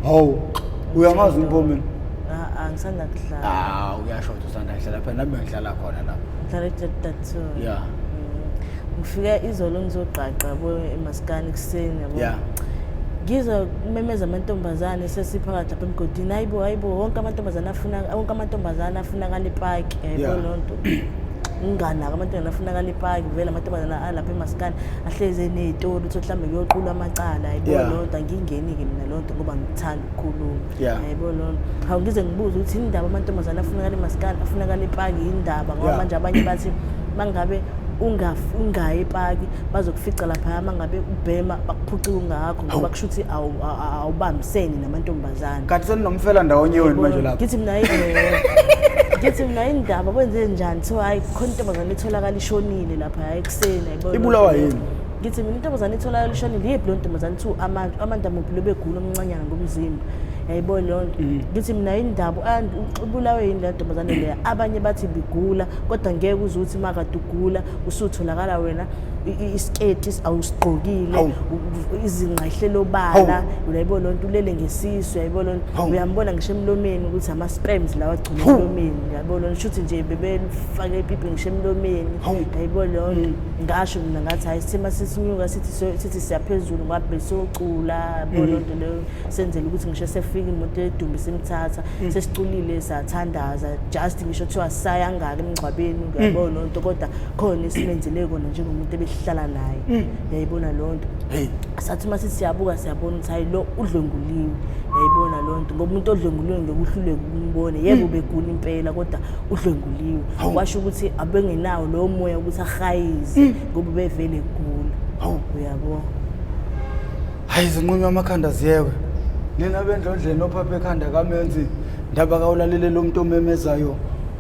hawu uyamazi umpomeni Ah, ngisanda kudlala ah uyasho ukuthi usanda kudlala phela nami ngidlala khona lapho ngidlala ejatatoo ya mm. ngifike izolo ngizogqagqa bo emasikani kuseni yabo ya ngizwa kumemeza amantombazane sesiphakathi lapha emgodini hayibo hayibo wonke amantombazane afuna wonke amantombazane afunakala ipaki yabo loo nto nginganaki amantombazane afunakala ipaki vele amantombazane alapha emasikani ahlezi eney'tori ukuthi mhlawumbe kuyoqulwa amacala yayibona yeah. loo nto angiyingeni-ke mina loo nto ngoba ngithanda ukukhuluma yeah. yayibona loo nto hawu ngize ngibuze ukuthi yini ndaba amantombazane afunakala emasikali afunakala ipaki yini ndaba ngoba yeah. manje abanye bathi mangabe ungayi epaki bazokufica laphaya uma ngabe ubhema bakuphucike ungakho ngoba kusho ukuthi awubambiseni namantombazane kanti seninomfela ndawonye wenu manje lapho ngithi mina ngithi mina indaba kwenze njani so hayi khona intombazane etholakala ishonile lapha hayi ekuseni ibulawa yini ngithi mina intombazane itholayo lishonile yiphi leyo ntombazane kuthiwa amantu amantu amuphi lobegula omncanyana ngomzimba yayibo leyo nto mm. ngithi mina yindaba ubulawe yini leyo ntombazane leya abanye bathi bigula kodwa ngeke uze ukuthi makade ugula usutholakala wena isiketi awusigqokile izingqahlelo bala uyayibo loo nto ulele ngesisu yayibo loo nto uyambona ngisho emlomeni ukuthi ama-sperms lawa agcina emlomeni yabo lona shuthi nje bebelifake ipipi ngisho emlomeni yayibona leyo nto mm. ngasho mina ngathi hhayi sithima sisinyuka sithi sithi siyaphezulu ngabe siyocula yabo mm. loo nto leyo senzela ukuthi ngisho sefika imoto edumbe simthatha mm. sesiculile sathandaza just ngisho kuthiwa sayangaka emngcwabeni yabo loo nto kodwa khona esimenzele kona njengomuntu ebehlala naye yayibona loo nto hey. sathi uma sithi siyabuka siyabona ukuthi hayi lo udlwenguliwe yayibona loo nto ngoba umuntu odlwenguliwe ngeke uhluleke ukumbone yebo hmm. begula impela kodwa udlwenguliwe washo ukuthi abengenawo lowo moya ukuthi ahayize hmm. ngoba ubevele egula uyabo hayi zinqunywa amakhanda ziyekwe nina bendlondleni ophaphe ekhanda kamenzi ndaba kawulalele lo muntu omemezayo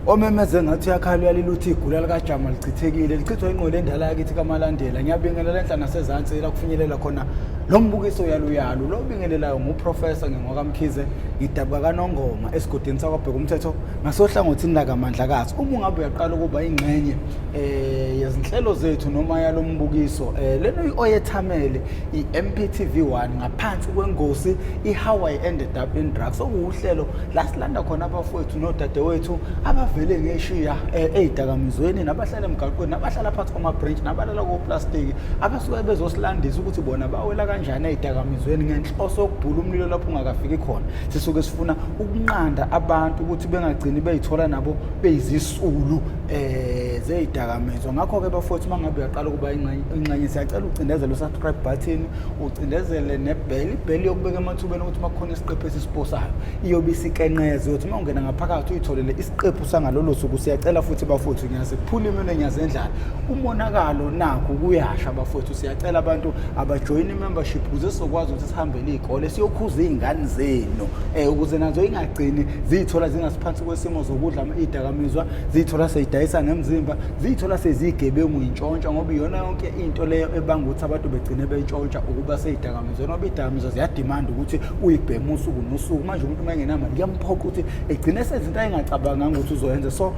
omemeze ngathi uyakhala uyalile uthi igula likajama lichithekile lichithwa inqola endala yakithi kamalandela ngiyabingelela enhla nasezansi la kufinyelela khona lo mbukiso yaluyalu lo obingelelayo nguprofesa ngingokamkhize ngidabuka kanongoma esigodini sakwabheka umthetho ngasohlangothini lakamandlakazi uma ungabe uyaqala ukuba ingxenye um yezinhlelo zethu noma yalo mbukiso um leno i-oyethamele i-MPTV 1 ngaphansi kwengosi i-How I Ended Up in Drugs okuwuhlelo lasilanda khona abafowethu nodadewethu abavele ngeshiya eh, ezidakamizweni nabahlala emgaqweni nabahlala phansi kwama-branch nabalala koplastiki abasuke bezosilandisa ukuthi bona bawela kanjani ezidakamizweni ngenhloso yokubhula umlilo lapho ungakafiki khona sisuke sifuna ukunqanda abantu ukuthi bengagcini beyithola nabo beyizisulu um eh, zezidakamizwa ngakho-ke bafowethu uma ngabe uyaqala ukuba ingxenye Nxenye siyacela ucindezele usubscribe button ucindezele nebheli ibheli yokubeka emathubeni ukuthi uma kukhona isiqephu esisiposayo iyobe isikenqeze ukuthi uma ungena ngaphakathi uyitholele isiqephu sangalolo suku siyacela futhi bafowethu ngiyaziphula imino ngiyazendlala umonakalo nakho kuyasha bafowethu siyacela abantu abajoyina i-membership ukuze sizokwazi ukuthi sihambele iy'kole siyokhuza iy'ngane zenu um ukuze nazo ingagcini ziyithola zingasiphansi kwesimo zokudla idakamizwa ziyithola seyidayisa ngemzimba ziyithola seziyigebengu yintshontsha ngoba iyona yonke into leyo ebanga ukuthi abantu begcine bentshontsha ukuba seyidakamizwa noba idakamizwa ziyadimanda ukuthi uyibheme usuku nosuku manje umuntu uma engenamali kuyamphoqa ukuthi egcine sezinto ayengacabanganga ukuthi uzoyenza so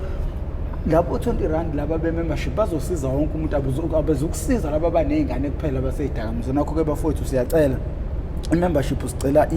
labo 20 rand laba be-membership bazosiza wonke umuntu abezukusiza laba abaney'ngane kuphela baseyidakamizwa nakho-ke bafowethu siyacela i-membership sicela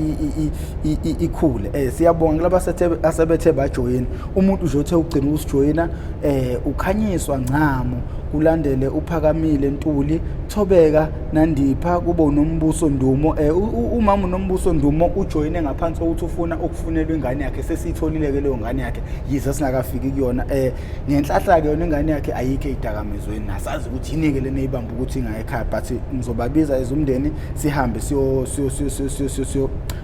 ikhule um siyabonga kulaba asebethe bajoyini umuntu nje othe ugcina ukusijoyina um eh, ukhanyiswa ngcamo kulandele uphakamile ntuli thobeka nandipha kube unombuso ndumo um umama unombuso ndumo ujoyine ngaphansi kokuthi ufuna ukufunelwa ingane yakhe sesiyitholile-ke leyo ngane yakhe yize singakafiki kuyona um eh, ngenhlahla-ke yona ingane yakhe ayikho ey'dakamizweni nasazi ukuthi yini-ke lena eyibamba ukuthi ingayekhaya but ngizobabiza ezumndeni sihambe siyo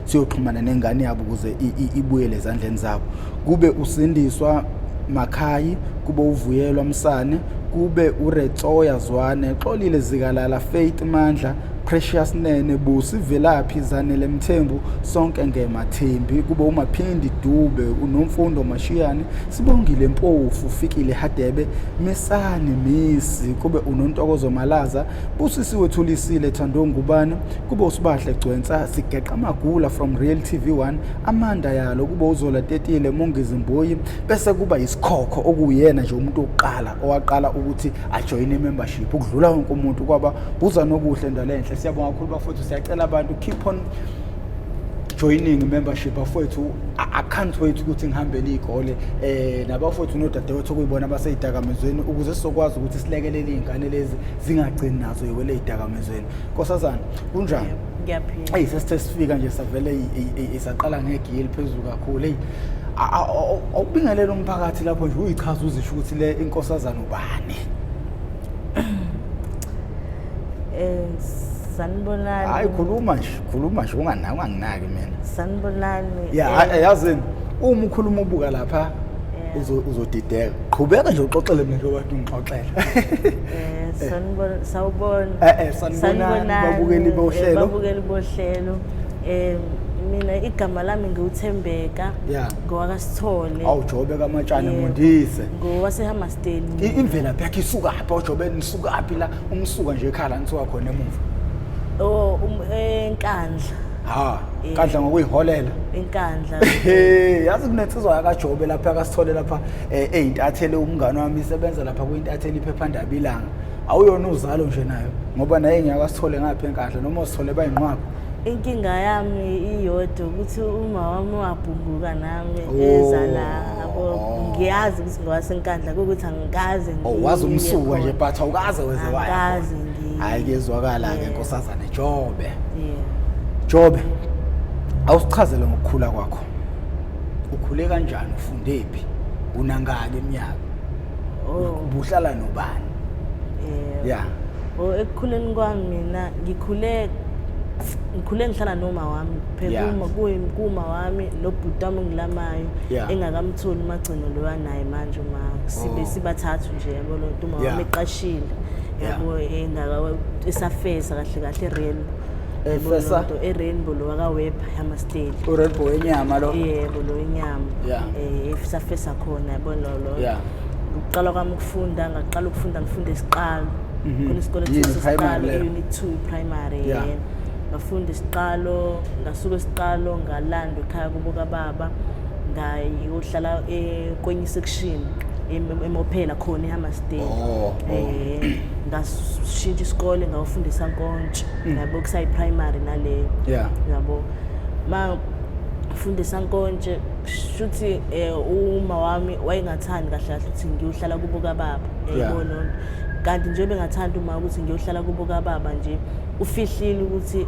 siyoxhumana nengane yabo ukuze ibuyele ezandleni zabo kube usindiswa makhayi kube uvuyelwa msane kube uretsoya zwane xolile zikalala faith mandla precious nene busi velaphi zanele mthembu sonke ngemathembi kube umaphindi dube unomfundo mashiyane sibongile mpofu fikile hadebe misani misi kube unontokozo malaza Busisiwe Thulisile Thando Ngubane kube usibahle Gcwensa sigeqa magula from Real TV 1 Amanda yalo kube uzola tetile Mongizi Mboyi bese kuba isikhokho okuyena nje umuntu oqala owaqala ukuthi ajoine membership ukudlula wonke umuntu kwaba buza nokuhle ndalenhle siyabonga kakhulu bafowethu siyacela abantu keep on joining membership bafowethu i can't wait ukuthi ngihambele iy'kole um nabafowethu nodadewethu okuyibona abaseyidakamizweni ukuze sizokwazi ukuthi silekelele iy'ngane lezi zingagcini nazo yiwele eyidakamizweni nkosazana kunjani ngiyaphila eyi sesithe sifika nje savele isaqala ngegi eliphezulu kakhulu eyi awubingelela umphakathi lapho nje uyichaza uzisho ukuthi le inkosazana ubani Eh sanibonani. Hayi khuluma nje, khuluma nje unganaki unganginaki mina. Sanibonani. Yeah, eh, yazini uma ukhuluma ubuka lapha uzodideka qhubeka nje uxoxele mina lokwathi ngixoxela eh sanibona sawubona eh, eh sanibona babukeli eh, bohlelo babukeli bohlelo eh mina igama lami ngiwuthembeka ngowakasithole awujobe kamatshana eh, mundise ngowasehamba I- imvelaphi yakhe isukaphi ojobe nisukaphi la umsuka nje ekhala nisuka khona emuva oh um, enkandla ha Eh. kadla ngokuyiholela enkandla Hey, yazi kunensizwa yakajobe lapha akasithole lapha eh, eyintathele umngane wami isebenza lapha kuyintathele iphephandaba ilanga awuyona uzalo nje nayo ngoba naye ngiyakasithole ngapha enkadla noma usithole bayinqwaba inkinga yami iyodwa ukuthi uma wami wabhunguka nami Oh. eza la yabo ngiyazi ukuthi wasenkandla kukuthi angikaze oh, ngiye wazi umsuku nje khona. but awukaze wenze wayo Angikaze ngiye. hayi kuyezwakala ke Yeah. nkosazana jobe Yeah. jobe awusichazele ngokukhula kwakho ukhule kanjani ufundephi unangaki eminyaka Oh, ubuhlala nobani yeah. ya Oh, ekukhuleni kwami mina ngikhule ngikhule ngihlala noma wami phekuma kuma wami lo bhuti wami ngilamayo engakamtholi umagcino lo wanaye manje uma sibe oh. sibathathu nje yabo lo nto uma wami eqashile yabo engaka esafesa kahle kahle rainbow efesa erainbow lo wakaweb hama state urainbow wenyama lo yebo lo wenyama eh esafesa khona yabo lo lo ukuqala kwami ukufunda ngaqala ukufunda ngifunda isiqalo mhm. khona isikole sesiqalo unit 2 primary yeah. ngafunda isiqalo ngasuka isiqalo ngalandwa ekhaya kubo kababa ngayohlala eh, kwenye isection emophela khona ehammerstead um oh, oh. eh, ngashintsha isikole ngawufundisa nkontsho mm. yabo kusayiprimary naleyo yabo ma fundisa nkontshe shuthi eh, uma wami wayengathandi kahle kahle ukuthi ngiyohlala kubo kababa yayibona kanti nje bengathanda uma ukuthi ngiyohlala kubo kababa nje ufihlile ukuthi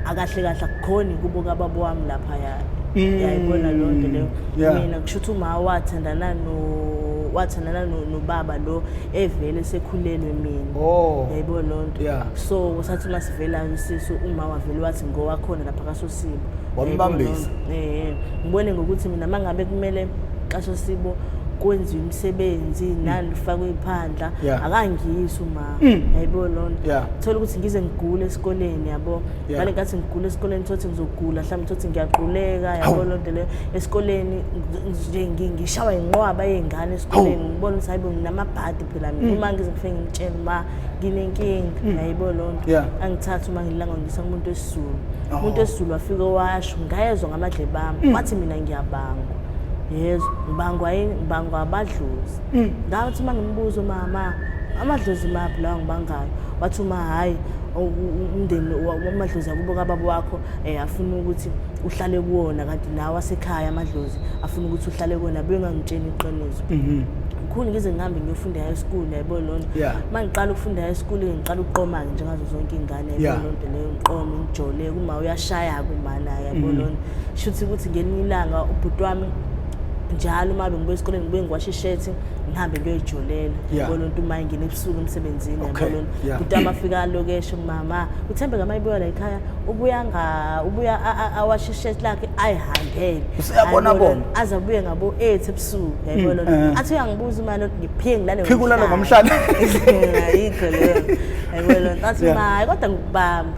akahle kahle akukhoni kubo kababa wami laphaya mm. yayibona loo nto leyo mina kusho ukuthi uma wathandana no wathandana nobaba lo evele sekhulelwe mina oh. yayibona loo nto so kusathi uma sivelayo isisu uma wavele wathi ngowakhona lapha kasosibo wambambisa um ngibone ngokuthi mina uma ngabe kumele kasosibo kwenziwa imisebenzi nani lifakwe iphandla akangiyisi uma Mm. yayibo loo nto yeah. thola ukuthi ngize ngigule esikoleni yabo yeah. ngale ngathi ngigule esikoleni thothi ngizogula mhlawumbe thothi ngiyaquleka yabo loo nto leyo esikoleni nje ngishawa yinqwaba yey'ngane esikoleni ngibona ukuthi hayibo nginamabhadi phela mina mm. uma ngize ngifike ngimtshele uba nginenkinga mm. yayibo loo nto yeah. angithathi uma ngilanga ngisa kumuntu esizulu oh. umuntu esizulu wafike washo ngayezwa ngamadlebami mm. wathi mina ngiyabangwa yezwa ngibangwa yini ngibangwa abadlozi Mm, ngathi uma ngimbuza umama amadlozi maphi lawa ngibangayo wathi uma hhayi umndeni wamadlozi akubo kababa wakho um afuna ukuthi uhlale kuwona kanti nawe asekhaya amadlozi afuna ukuthi uhlale kuwona bengangitsheni iqiniso mhm. ngikhulu ngize ngihambe ngiyofunda high school yayibona loo nto uma ngiqala ukufunda high school ngiqala ukuqoma-ke njengazo zonke iy'ngane yayibona loo nto leyo ngiqome ngijole kuma uyashaya-ke umana yayibona loo nto shuthi ukuthi ngelinye ilanga ubhuti wami njalo uma bengibuya esikoleni ngibuye ngiwashe ishethi ngihambe ngiyoyijolela yabona umuntu uma engena ebusuku emsebenzini yabona ukuthi amafika alokeshe mama uthembe ngama ibuya la ekhaya ubuya nga ubuya awashe ishethi lakhe ayihambele usiyabona bona aze abuye ngabo 8 ebusuku yabona mm, eh. athi uyangibuza uma ngiphike ngilale phike ulale ngomhlane ayikho leyo yabona athi ma kodwa ngikubamba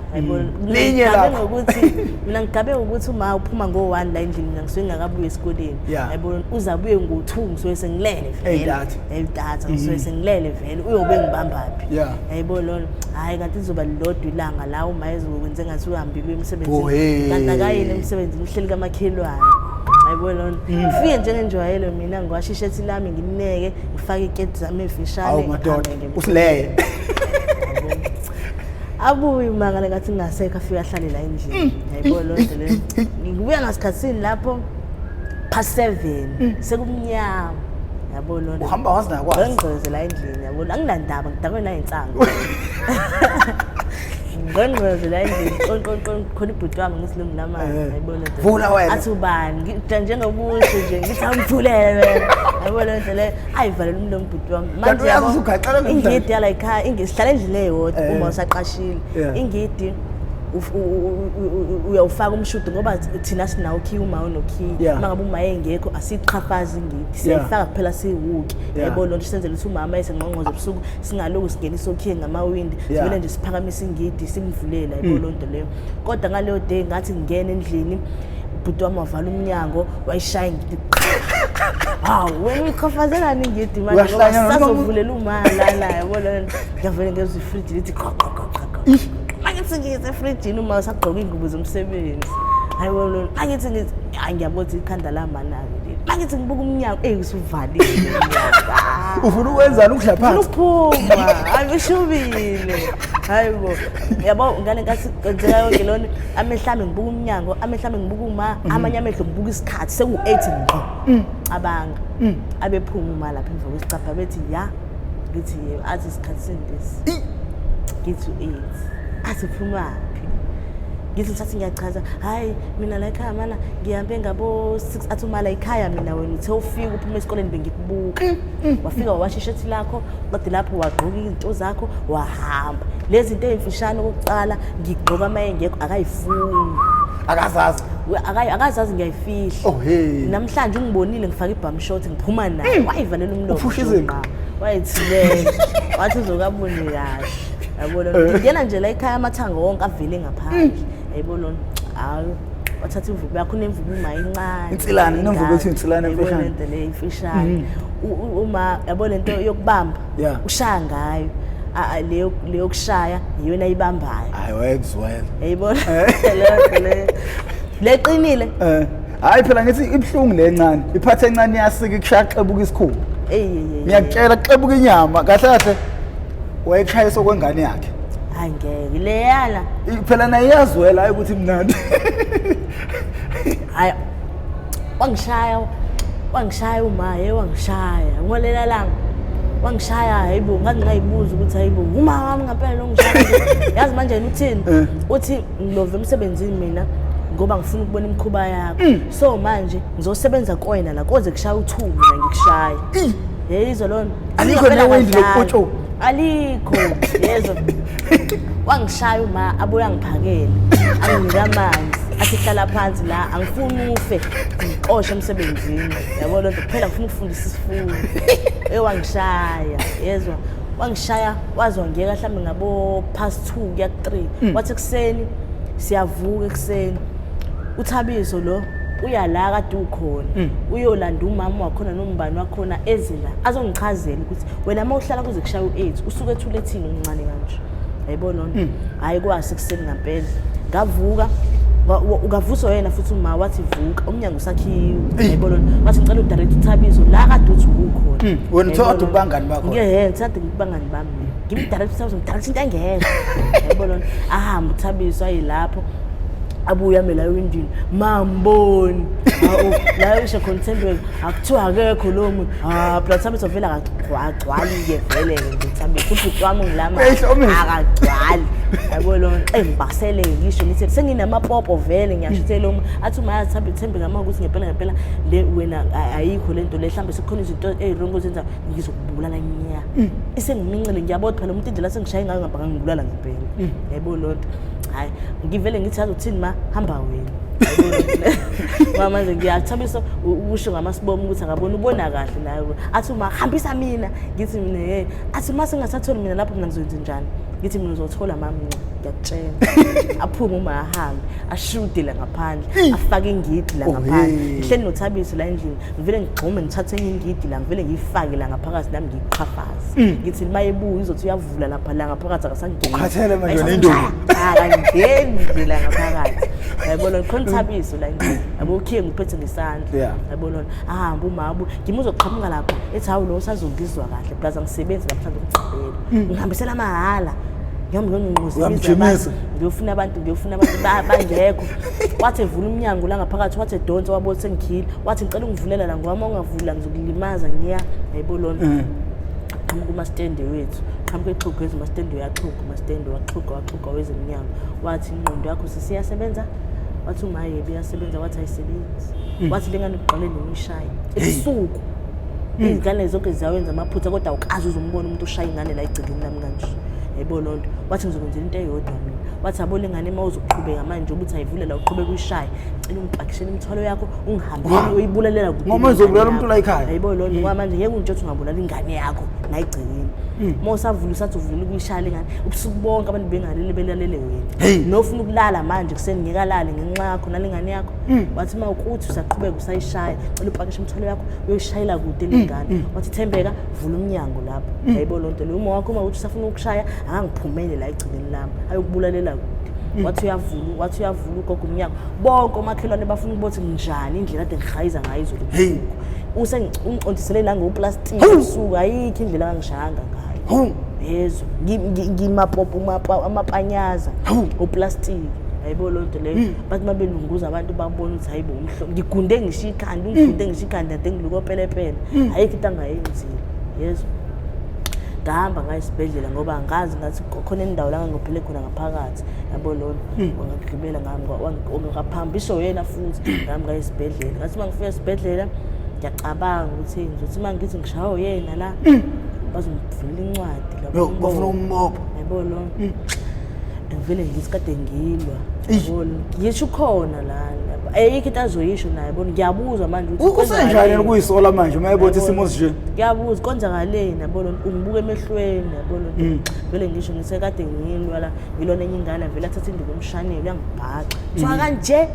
linye lakho ukuthi mina ngigabe ukuthi uma uphuma ngo-1 la endlini mina ngisuke ngingakabuye esikoleni yayibona uze abuye ngo-two ngisuke sengilele veleyidata ngisuke mm-hmm. sengilele vele uyobe ngibambaphi yayibo lona hhayi kanti lizoba lilodwa ilanga la uma ezokwenze ngathi uhambile uye emsebenzini kanti akayini emsebenzini uhleli kamakhelwane ayibo lona ngifike mm. njengenjwayelo mina ngiwasha ishethi lami ngineke ngifake iketi zami efishane usileye abuye umangale kathi ngingasekho afike ahlale la endlini mm. yayibo loo nto leyo ngikubuya ngasikhathini lapho past seven mm. sekumnyama yabo lona uhamba wazi nakwazi ngqongqoze la endlini yabo anginandaba ngidakwe nayo insangu ngqongqoze la endlini qonqonqon khona ibhuti wami ngisilungu namanje eh, eh. yayibona vula wena athi ubani njengokuthi nje ngithi awumthulele wena yayibona nje le ayivalele umlomo bhuti wami Kanti Manje uyazi yabo, usugaxela lo ingidi mdlalo. yala ikhaya ingi- sihlala endlini eyodwa Eh. uma usaqashile Yeah. ingidi uf- u- u- u- u- uyawufaka umshudo ngoba thina sinawo ukhiya uma unokhiya Yeah. uma ngabe uma engekho asiqhafazi ingidi siyayifaka kuphela siwuke Yeah. yabo loo nto senzela ukuthi umama esengqongqoze ebusuku singaloku singenisa okhiye ngamawindi Yeah. Mm. sivele nje siphakamisa ingidi simvulele yabo loo nto leyo kodwa ngaleyo day ngathi ngingena endlini ubhuti wami wavala umnyango wayishaya hawu wena uyichafazelani ngidi manje ngoba sisazovulela umala la yabo le nto ngiyavele ngezwa ifriji lithi angithi ngize efrijini uma usagqoka iy'ngubo zomsebenzi hayi wona angithi ngithi hayi ngiyabona ukuthi ikhanda lamanani leli angithi ngibuka umnyango eyi usuvalile ufuna ukwenzani ukudla phansi uphuma hayi ushubile hayi bo yabo ngane nkathi kwenzeka yonke lona amehlo ami ngibuka umnyango amehlo ami ngibuka uma mhm. amanye amehlo ngibuka isikhathi seku-eight ngqo mm. cabanga mm. abephuma uma lapha emva kwesicabha bethi ya ngithi yebo athi isikhathi sendesi ngithi u-eight asiphumaphi ngithi mthathi ngiyachaza hhayi mina la ekhaya mana ngihambe ngabo-six athi uma la ekhaya mina wena uthe ufika uphuma esikoleni bengikubuka mm. Mm. wafika wawasha ishethi lakho qede lapho wagqoka izinto zakho wahamba lezi zinto ey'mfishane okokuqala ngigqoka uma engekho akayifuni akazazi akazazi ngiyayifihla oh, namhlanje ungibonile ngifake ibhamshot ngiphuma naye mm. wayivalela umlomo wayethilela wathi uzokaboni kahle yabona eh. ngingena nje la ekhaya amathanga wonke avele ngaphandle mm. yayibona hayi wathatha imvubu yakho unemvubu uma incane insilane inemvubu ethi insilane emfishane lento le imfishane mm-hmm. uma yabo lento yokubamba ushaya ngayo leyo leyo kushaya iyona ibambayo hayi wayekuzwela yayibona eh. lento le leqinile eh hayi phela ngithi ibhlungu lencane iphathe encane yasika ikushaya xebuka isikhulu ngiyakutshela xebuka inyama kahle kahle wayekushayisa okwengane yakhe hayi ngeke leyana phela naye iyazwela hayi ukuthi mnandi hayi wangishaya wangishaya umaye wangishaya ngolela langa wangishaya hayibo ngangingayibuzwa ukuthi hayibo uma wami ngempela longishaya yazi manje uthini eh. uthi ngilove emsebenzini mina ngoba ngifuna ukubona imikhuba yakho mm. so manje ngizosebenza koyena la koze kushaya uthuku mina ngikushaye hey izolona Alikho Ngempela newendi wadlala. lokupotshoka. alikho yezo wangishaya uma abuye angiphakele anginika amanzi athi hlala phansi la angifuni ufe ngixoshe emsebenzini yabo loo nto kuphela ngifuna ukufundisa isifundo eye wangishaya yezwa wangishaya waze wangiyeka mhlawumbe ngabo past two kuya ku-three wathi ekuseni siyavuka ekuseni uthabiso lo uya la kade ukhona mm. uyolanda umama wakhona nombani wakhona eze la azongichazela ukuthi wena uma uhlala kuze kushaya u-aids usuke ethule ethini umncane kanje yayibona ona mm. hhayi kwase kuseni ngampela ngavuka ukavuswa yena futhi uma wathi vuka umnyango usakhiwe yayibona ona wathi ngicela udirect uthabizo la kade uthi ukukhona mm. wena uthe kade ubangani bakho ngehe ngithe kade ngibangani bami ngimdirect uthabizo ngidirect into engekho yayibona ona ahambe uthabizo ayilapho abuya mina ewindini mamboni hawu la isho contendwell akuthiwa akekho lowo muntu ha phela thambi sovela akagcwali-ke vele-ke nje thambi futhi uti wami ngilama akagcwali yabo lo nxembasele ngisho ngithi senginamapopo vele ngiyashithela uma athi uma yathambi thembi ngama ukuthi ngempela ngempela le wena ayikho le nto le mhlawumbe sekukhona izinto ezirongo zenza ngizokubulala nya mm. isengimincele ngiyabodwa phela umuntu indlela sengishaye ngayo ngabhanga ngibulala ngempela mm. yayibona loo nto hayi ngivele ngithi yazi uthini ma hamba wena ngoba manje ngiyathabisa ukusho ngamasibomo ukuthi angabona ubona kahle naye athi uma hambisa mina ngithi mina ye athi uma singasatholi mina lapho mina ngizoyenza njani ngithi mina uzothola mami ngiyakutshela aphume uma ahambe ashude la ngaphandle afake ingidi la ngaphandle ngihleli nothabiso la endlini ngivele ngigxume ngithathe enye ingidi la ngivele ngiyifake la ngaphakathi nami ngiyiqhafaze ngithi uma ebuya izothi vula lapha la ngaphakathi akasangeni ukhathele manje wena indoda akangeni nje la ngaphakathi yayibona khona ithabiso la nje yabo ukhiye ngiphethe ngesandla yayibona ahamba umabu ngimuzoqhamuka lapha ethi hawu lo usazongizwa kahle plus angisebenzi namhlanje ukugqibela mm. ngihambisela mahhala ngiyofuna abantu ngiyofuna abantu bangekho wathi evula umnyango la ngaphakathi wathi edonse wabona sengikhile wathi ngicela ungivulela la ngoba uma ungavula ngizokulimaza ngiya yayibona lona mm. qhamuka umastende wethu qhamuka exhuga wethu umastende uyaxhuga umastende waxhuga waxhuga wezemnyama wathi ingqondo yakho sisiyasebenza wathi umaye biyasebenza wathi ayisebenzi hmm. wathi lengane uqale nomishaye ebusuku hmm. izingane zonke ziyawenza amaphutha kodwa awukazi uzombona umuntu ushaya ingane la igcekeni lami kanje yebo loo nto wathi ngizokwenzela into eyodwa mina wathi abole ngane uma uzoqhubeka manje ukuthi ayivulela uqhubeka uyishaye cela ungipakishele imithwalo yakho Wah. uyibulalela kuphi Ngoba uzobulala ingane umuntu la yakho? ekhaya. Hayibo loo nto ngoba manje ngeke untsho ukuthi ungabulala ingane yakho ngayigcinile Mm. uma usavula usathi uvula ukuyishayela ingane ubusuku bonke abantu bengalele belalele Hey. wena nofuna ukulala manje kuseni ngeke alale ngenxa yakho nale ngane yakho Mm. wathi uma ukuthi usaqhubeka usayishaya cela upakishe imithwalo yakho uyoyishayela kude Mm, le ngane wathi thembeka vula umnyango lapho Mm. hayibo loo nto leyo uma wakho uma ukuthi usafuna ukushaya angangiphumele la egcekeni lami ayokubulalela kude Mm. wathi uyavula wathi uyavula ugogo umnyango bonke omakhelwane bafuna ukuthi nginjani indlela ade ngihayiza ngayo izulu Hey. usengicondisele nangoplastiki Hawu. usuku ayikho indlela angishayanga ngayo Hawu. yezwa Ngi- ngi- ngimapopo umapa- amapanyaza Hawu. oplastiki ayibo loo nto leyo bathi uma belunguza abantu babona ukuthi hayibo umhlo ngigunde ngisho ikhanda ungigunde ngisho ikhanda ade ngilukopelepele ayikho into angayenzile yezwa ngahamba ngayo esibhedlela ngoba angazi ngathi khona indawo la ngangiphile khona ngaphakathi yabo lona hmm. wangagibela ngami wangaphambi isho yena futhi hmm. ngami ngaye esibhedlela ngathi uma ngifika esibhedlela ngiyacabanga ukuthi ngizothi uma ngithi ngishawo yena la hmm. bazongivula incwadi bafuna umbopha yabo lona ngivele ngithi kade ngilwa yisho ukhona lana ayikho into azoyisho naye bona ngiyabuzwa manje ukuthi usenjani ukuyisola manje uma ebona isimo sinje ngiyabuza konzakaleni yabona ungibuka emehlweni yabona mm. vele ngisho sekade ngilwa la ngilona enye ingane vele athatha induku umshanele uyangibhaxa kuthiwa mm. kanje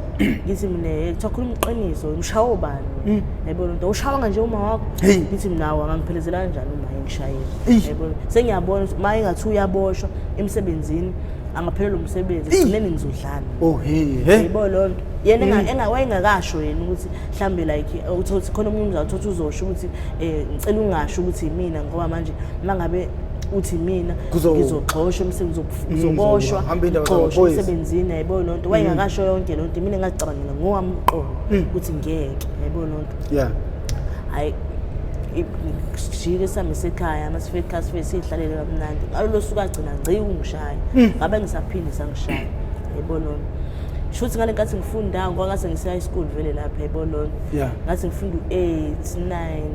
ngithi mina eh, kuthiwa khuluma iqiniso umshawo bani mm. yayibona into ushawanga nje uma wakho ngithi mnawo angangiphelezela kanjani uma engishayile yayibona sengiyabona ukuthi uma engathi uyaboshwa emsebenzini angaphelelwa umsebenzi ekugcineni ngizodlana oh hey yebo loo nto yena mm. engawayengakasho yena ukuthi mhlawumbe like uthi khona omunye umzawuthi uthi uzosho ukuthi um ngicela ungasho ukuthi yimina ngoba manje uma ngabe uthi mina ngizogxosha umsebenzi mm, uzoboshwa ngixoshwa emsebenzini yayibona loo nto mm. wayengakasho yonke loo nto mina ngazicabangela ngowami umqondo mm. ukuthi ngeke yayibona loo nto hayi sijike sihambe sekhaya uma sifike ekhaya sife siyihlalele kamnandi ngalo lo suka agcina ngci ungishaya ngabe ngisaphinde sangishaya yayibona loo nto shuthi ngale nkathi ngifunda ngoba ngase ngise-high school vele lapha yayibona loo nto ngathi ngifunda u-eight nine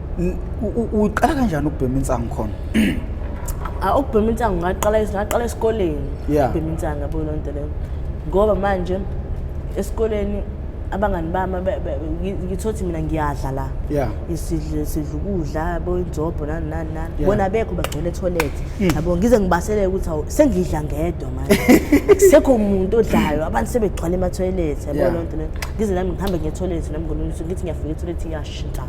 uqala kanjani ukubhema insangu khona ah, ukubhema insangu ngaqala ngaqala esikoleni ukubhema insangu yabo loo nto leyo ngoba manje esikoleni abangani bami ngithothi mina ngiyadla la isidle sidla ukudla yabo inzobho nani nani nani bona bekho bagcwele etoilet hmm. yabo ngize ngibaseleke ukuthi awu sengidla ngedwa manje kusekho umuntu odlayo abantu sebegcwala ematoilet yabo loo nto leyo ngize nami ngihambe ngetoilet nami ngolunye usuku ngithi ngiyafika etoilet iyashintsha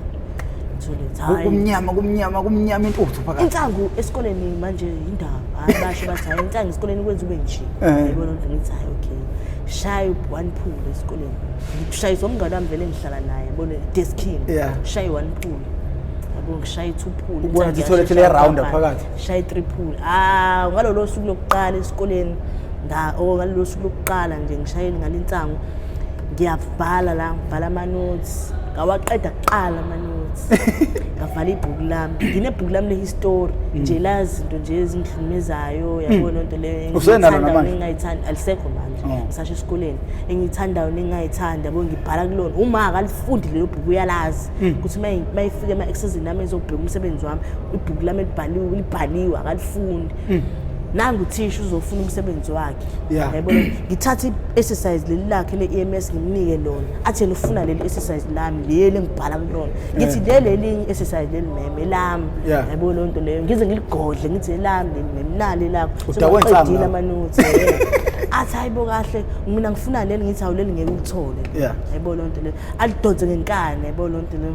Mtholethi, hhayi. kumnyama kumnyama kumnyama intuthu phakathi insangu esikoleni manje yindaba hayi basho bathi hayi insangu esikoleni kwenza ube nje Eh. yayibona nje ngithi hayi okay shaye one pool esikoleni ngikushayisa umngane wami vele engihlala naye yabona deskini Yeah. shaye one pool yabo ngishaye two pool Ubona Insangu ukuthi itoilet yashesha le-round yabamba. phakathi. shaye three pool ah ngalolo suku lokuqala esikoleni nga oh ngalolo suku lokuqala nje ngishayeni ngalinsangu ngiyavala la ngibhala ama notes ngawaqeda kuqala amanothi ngavala ibhuku lami nginebhuku lami lehistori mm. nje la zinto nje ezingihlukumezayo mm. yabona loo nto leyoengiyithandayo nengingayithandi alisekho manje oh. ngisasho esikoleni engiyithandayo nengingayithandi yabo ngibhala kulona uma akalifundi lelo bhuku uyalazi mm. ukuthi uma ifike ema-exesini ami ezobheka umsebenzi wami ibhuku lami libhaliwe akalifundi mm. nangu thisha uzofuna umsebenzi wakhe yeah. yabo ngithatha i-exercise leli lakhe le-ems ngimnike lona athi yena ufuna leli exercise lami leli engibhala kulona ngithi yeah. leli elinye i-exercise leli meme lami yeah. yabo loo nto leyo ngize ngiligodle ngithi elami leli meme nali lakho soqedile amanothi athi hayibo kahle mina ngifuna leli ngithi awuleli ngeke ulithole yeah. yabo loo nto leyo alidonse ngenkani yabo loo nto leyo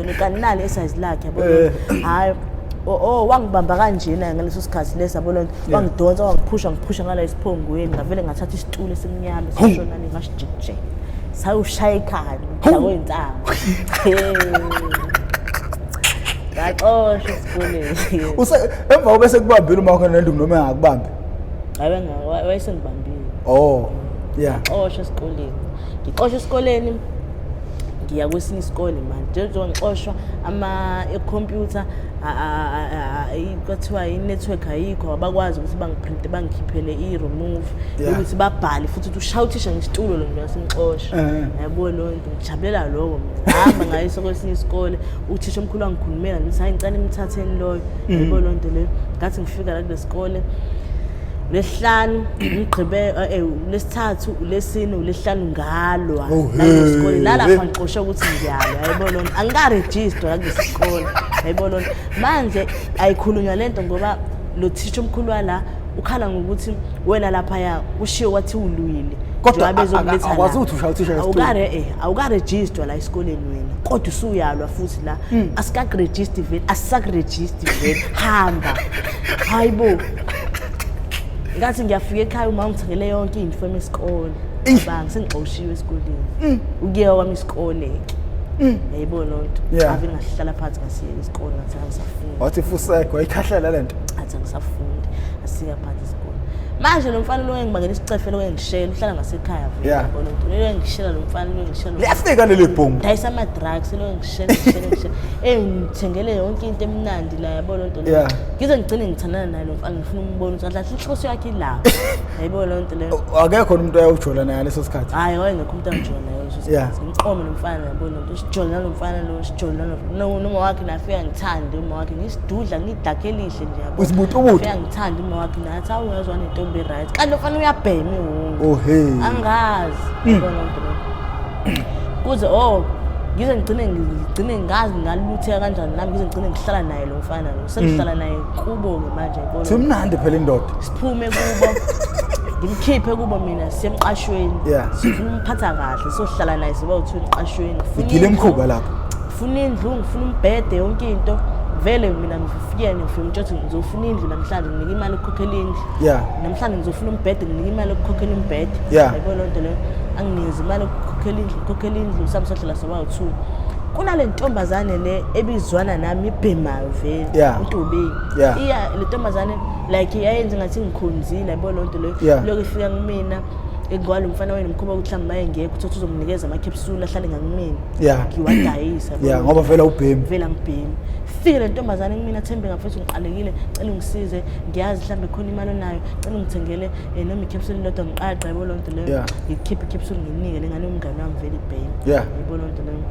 kanilali esize lakhe yabo eh. hayi o oh, oh, wangibamba kanjena ngaleso sikhathi lesi yabo lonto wangidonsa wangiphusha ngiphusha ngala isiphongweni ngavele ngathatha isitulo esimnyama esishona ni ngashijije sayushaya ikhani ngidakwe insango ngaxosha esikoleni use emva kobe sekubambile uma khona nendungu noma engakubambi ayi wayesengibambile oh yeah ngaxosha esikoleni ngixoshwa esikoleni ngiya kwesinye isikole manje njengoba ngixoshwa ama-computer kuthiwa i-network ayikho abakwazi ukuthi bangiprinte bangikhiphele i-remove ukuthi babhale futhi ukuthi ushaya uthisha ngesitulo lo mntu wasemxosha eh. yabo loo nto ngijabulela loko mina hamba ngayiso kwesinye isikole uthisha omkhulu wangikhulumela ngithi hayi ngicane imthatheni loyo mm. yabo loo nto leyo ngathi ngifika la kule sikole lesihlanu ngigqibe eh, eh, lesithathu ulesine ulesihlanu ngalwa Oh, hey. naleskole nalapha ngixoshe ukuthi ngiyalwa yayibona lona angikarejistwa nakulesikole yayibona lona manje ayikhulunywa lento ngoba lo thisha omkhulu wala ukhala ngokuthi wena laphaya kushiwo wathi ulwile Kodwa a- a- akwazi ukuthi ushaya uthisha ngesitulo. awukare eh awukarejistwa la esikoleni wena kodwa usuyalwa futhi la Hmm. asikakurejisti vele asisakurejisti vele hamba hayibo ngathi ngiyafika ekhaya uma ngithengele yonke into from isikole bang sengixoshiwe esikoleni mm. ukuyewa kwami isikole ke mm. yayibona loo nto ave ngahlala phansi ngasiyeka isikole ngathi angisafuni wathi fuseko wayikhahlela le nto athi angisafundi asiya phansi isikole manje lo mfana lo engibangela isicefelo kuyengishela uhlala ngasekhaya yabona nto leyo engishela lo mfana lo engishela liyafika leli bhomu dayisa ama-drugs lo engishela ngishela ngishela engithengele yonke into emnandi la yabona nto leyo ngize ngigcine ngithandana naye lo mfana Ngifuna umbone ukuthi kahle inhloso yakhe ilapha. Yayibona leyo nto leyo. akekho umuntu ayawujola naye ngaleso sikhathi Hayi wayengekho umuntu angijona naye leso Yeah. sikhathi. Ngiqome nomfana yabona ukuthi sijole nalomfana lo sijole nalo. No noma wakhe nafika ngithande uma wakhe ngisidudla ngidakhe elihle nje yabo. Usibutubutu? Nafika ngithande uma wakhe nathi awu uyazwa nentombi right. Kanti lofana uyabhema iwungu. oh hey angazi yabona lento leyo. kuze oh ngize ngigcine ngigcine ngazi ngalutheka kanjani nami ngize ngigcine ngihlala naye lo mfana lo sengihlala naye kubo-ke manje yabona. simnandi phela indoda siphume kubo ngimkhiphe kubo mina sisemqashweni Yeah. sifuna umphatha kahle sohlala naye siba uthiwa emqashweni Ngifuna igile indlu, emkhuba lapho ngifuna indlu ngifuna umbhede yonke into vele mina ngifikele ngifike ngitsho ukuthi ngizofuna indlu namhlanje nginike imali yokukhokhela indlu Yeah. namhlanje ngizofuna umbhede nginike imali yokukhokhela umbhede Yeah. yabo loo nto leyo anginikeze imali yokukhokhela indlu ngikhokhela indlu sami sohlala soba u-two kunale ntombazane le ebizwana nami ibhema vele Yeah. utubeki Yeah. iya le ntombazane like yayenze ngathi ngikhonzile yabo loo nto leyo Yeah. lokho ifika kumina engqwala umfana wenu mkhuba ukuthi mhlawumbe maye ngekho uthi uzomnikeza amakhepsula ahlale ngakumina Yeah. ngiwadayisa yabo. ya ngoba vela ubhemi ngivela ngibhemi fike le ntombazane kumina thembe ngafethu ngiqalekile cela ungisize ngiyazi mhlawumbe khona imali onayo cela ungithengele um noma ikhepsuli lodwa ngiqaqa yabo loo nto leyo Yeah. ngikhiphe ikhepsuli nginike le ngane yomngane wami vele ibhemi Yeah. yabo loo nto leyo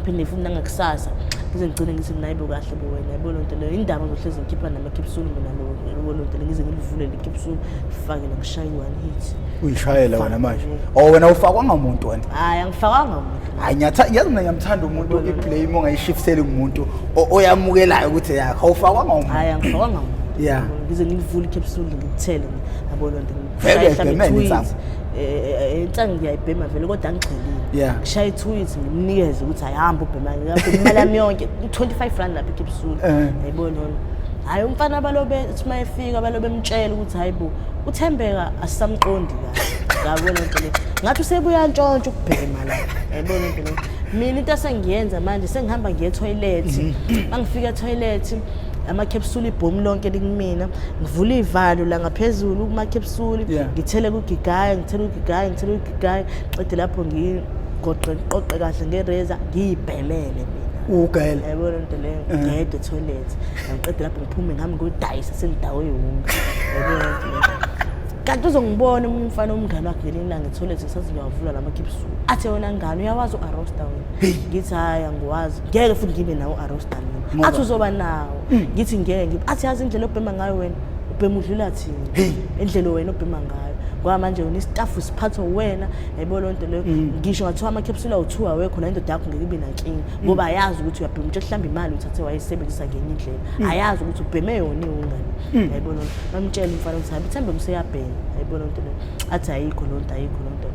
phinde futhi nangakusasa ngize ngigcine ngithi mina ayibo kahle bo wena yabo loo nto leyo indaba ngizohlezi ngikhipha namakipsulu mina loo nto le ngize ngilivule likipsulu ngifake nakushaye i-one hit uyishayela wena manje o oh, wena ufakwanga muntu wena hhayi angifakwanga muntu hayi ngiyazi mina ngiyamthanda umuntu i-blame ongayishifiseli kumuntu oyamukelayo ukuthi yakho awufakwanga umuntu hhayi angifakwanga muntu ya ngize ngilivule ikipsulu ngikuthele yabo loo nto vele ebhemene insanga ngiyayibhema vele kodwa angigxilile ngishaya ithuyithi ngimnikeze ukuthi ayihambe ubhema imali yami yonke u-25 rand lapha ekipsula yayibo nona hhayi umfana abalobe uthi uma efika abalobe emtshela ukuthi hhayi bo uthembeka asisamqondi kahle ngabona nto le ngathi usebuyantshontsha ukubhema la yayibona nto le mina into esengiyenza manje sengihamba ngiye ethoyilethi uma ngifika ethoyilethi amakhepsuli ibhomu lonke likumina ngivula iy'valo la ngaphezulu kumakhepsuli ngithele kugigaya ngithele kugigaya ngithele kugigaya qede lapho ngigoqe ngiqoqe kahle ngereza ngiyibhelele ugayela yabona into leyo eh. ngiyede toilet ngiqede lapho ngiphume ngihamba ngiyodayisa sengidawo yonke yabona into leyo kanti uzongibona omunye umfana omngane wakhe ngelinye ilanga etholethi ngisathi ngiyawavula la makhipsuku athe wena ngane uyawazi u-arosta wena ngithi hhayi angiwazi ngeke futhi ngibe nawo Rostaline athi uzoba nawo mm. ngithi ngeke athi yazi indlela obhema ngayo wena ubhema udlula thina indlela wena obhema ngayo ngoba manje wena istaff siphathwa wena yayibona loo nto leyo mm. ngisho ngathiwa ama-capsule awu-two awekho nayo indoda yakho ngeke ibe nankinga mm. ngoba ayazi ukuthi uyabhema utsho kuhlamba imali uthathe wayisebenzisa ngenye indlela mm. ayazi ukuthi ubheme yona iwungane yayibona loo nto bamtshela umfana ukuthi habi thambe mseyabhema yayibona loo nto leyo athi ayikho loo nto ayikho loo nto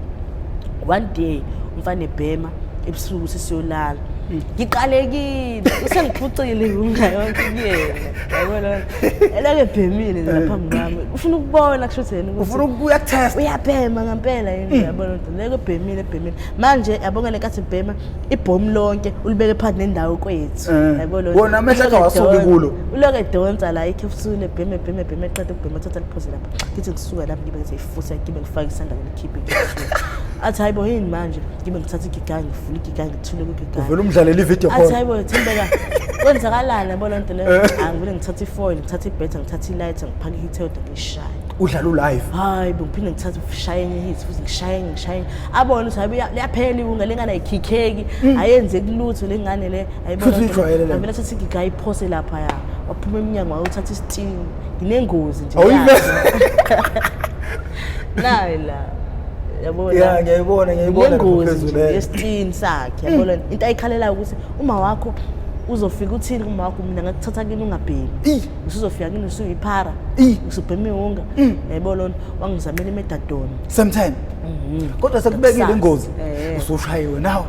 one day umfana ebhema ebusuku sesiyolala hmm. ngiqalekile usengiphucile ngunga yonke kuyena yabona elake bhemile nje eh. phambi kwami ufuna ukubona kusho ukuthi yena ufuna ukuya test uyabhema ngempela yini hmm. yabona ukuthi leke bhemile bhemile manje yabonga le kathi bhema ibhomu lonke ulibeke phansi nendawo kwethu eh. yabona wona amehla ka wasuki kulo uloke donsa la ikhe ufusule bheme bheme bheme qede ukubhema thatha liphoze lapha ngithi ngisuka lapha ngibe ngize ifusa ngibe ngifake isandla ngikhiphe athi hayibo yini manje ngibe ngithatha igigayi ngivula igigayi ngithule kwigigayi uvele umdlalele ivideo athi hayibo thembeka kwenzakalani yabo loo nto leyo eh. angivele ngithathe ifoil ngithathe ibhetha ngithathe ilight ngiphake ihithelda ngishaye udlala ulive hayi bengiphinde ngithathe ushaye enye hit futhi ngishaye ngishaye abone ukuthi hayi liyaphela iwunga lengane ayikhikheki mm. ayenzeki lutho lengane le ayibonavele thatha igiga ayiphose lapha ya waphuma emnyango wayothatha isitini nginengozi nje nayo la yabona ya ngiyayibona ngiyayibona yengozi yesitini sakhe yabona mm. into ayikhalelayo ukuthi uma wakho uzofika uthini uma wakho mina ngakuthatha kini ungabhemi usuzofika kini usuyiphara usubhema iwunga mm. yayibona lona wangizamela imedadoni sometime mm-hmm. kodwa sekubekile ingozi eh. usushayiwe nawe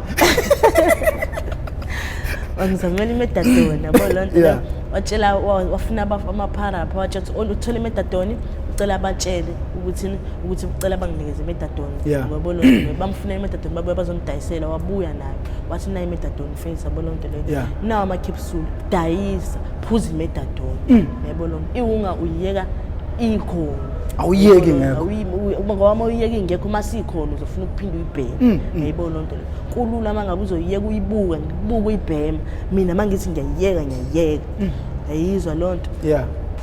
wangizamela imedadoni yabona lona watshela wafuna amaphara pha watshela ukuthi uthole imedadoni cela batshele ukuthi ukuthi ucela banginikeze metadone yeah. ngoba lo bamfuna imetadone babuya bazomdayisela wabuya nayo wathi nayo imetadone face yabo lonto leyo yeah. nawo ama capsule dayisa phuza imetadone mm. yabo lo iwunga uyeka ikhona awuyeki ngekho ngoba uma uyeka ingekho uma sikhona uzofuna ukuphinde uyibheme mm, mm. yayibona loo nto leyo kulula uma ngabe uzoyiyeka uyibuke ngibuke uyibhema mina uma ngithi ngiyayiyeka ngiyayiyeka yayizwa loo nto yeah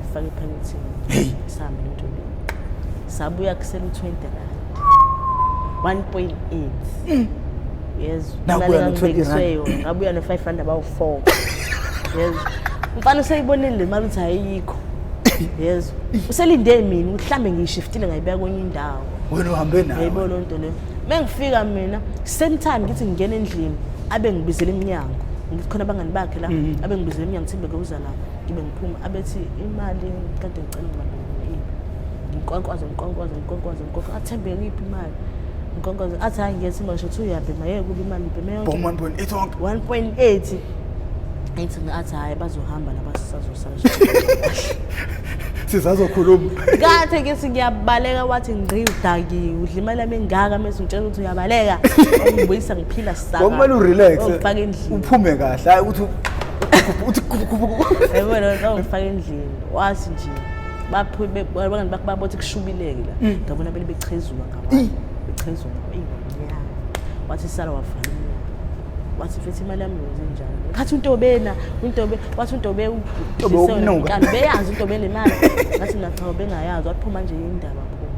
ngifake ephakethini hey sihambe ntombi sabuya kusele u20 rand 1.8 mm. yes nakuya no20 rand ngabuya no 5 rand about 4 yes mfana useyibonile le mali uthi ayikho yes uselinde mina mhlambe ngiyishiftile ngayibeka kwenye indawo wena uhambe nayo yebo lo nto leyo mengifika mina same time ngithi ngingena endlini abe ngibizela iminyango ngikhona abangani bakhe la mm-hmm. abe ngibizela iminyango thimbe kuzana ngibe ngiphuma abethi imali kade ngicela imali nginkwankwaze nginkwankwaze nginkwankwaze nginkwankwaze athembe ngiphi imali nginkwankwaze athi hayi ngiyethi manje uthi uyabhema yeke kuba imali ngibheme yonke one point eight wonke one point eight athi athi hhayi bazohamba laba sisazosala sizazokhuluma kathe ke singiyabaleka wathi ngqi udakiwe udla imali yami engaka mese ngitshela ukuthi uyabaleka ungibuyisa ngiphila Ngokumele urelax. Ufake endlini. Uphume kahle. Hayi ukuthi uthi yabona zawungifaka endlini wathi nje baphume bangani bakho babothi kushubileke la mm. ngabona bele bechezuka ngabantu bechezuka ingonyaka wathi sala wavala wathi mfethu imali yami yenze njani ngathi untobena untobe wathi untobe unoka beyazi untobe le mali ngathi mina cha bengayazi waphuma nje indaba phuma